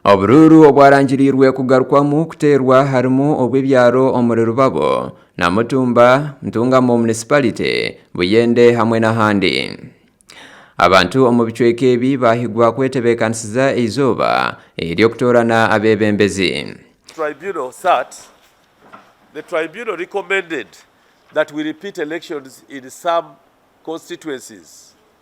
Oburuuru obwarangiriirwe kugarukwamu kuteerwa harimu obw'ebyaro omuri Rubabo, Namutumba, Ntungamo Municipality, Buyende hamwe n'ahandi. Abantu omu bicweka ebi baahigwa kwetebeekanisiza eizooba ery'okutoorana abeebembezi. Tribunal sat The Tribunal recommended that we repeat elections in some constituencies.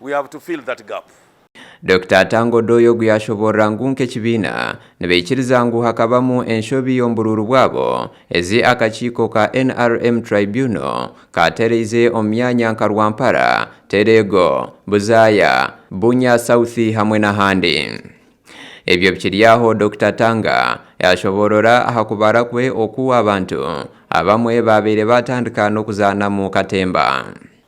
We have to fill that gap. Dokita Atanga Odoi ogu yaashoboorora ngu nk'ekibiina nibaikiriza ngu hakabamu enshobi omu buruuru bwabo, ezi akakiiko ka nrm Tribunal kaatereize omu myanya nka Rwampara, Tereego, Buzaaya, Bunya South hamwe n'ahandi. Ebyo bikiri aho, Dokita Atanga yaashoboorora aha kubara kwe oku abantu abamwe baabaire baatandika n'okuzaanamu katemba.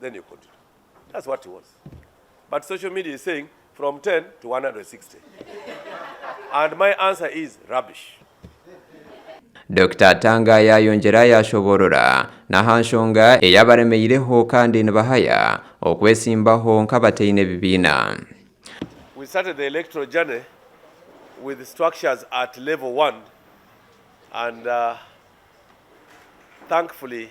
then you continue that's what he wants but social media is saying from 10 to 160 and my answer is rubbish. Dokita Atanga yaayongyera yaashoboorora n'aha nshonga eyabaremeireho kandi nibahaya okwesimbaho nk'abataine bibiina. We started the electoral journey with structures at level one and thankfully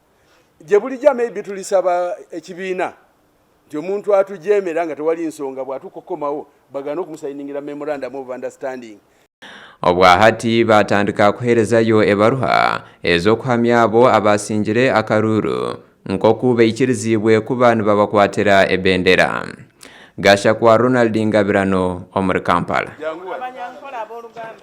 Gye bulijo maybe tulisaba ekibiina nti omuntu atugyemera nga tewali nsonga bwatuuka okukomawo bagaane okumusayiningira memorandum of understanding. Obwa hati baatandika kuheerezayo ebaruha ez'okuhamya abo abaasingire akaruuru nk'oku baikiriziibwe kuba nibabakwatira ebendera. Gashakwa Ronald Ngabirano omuri Kampala.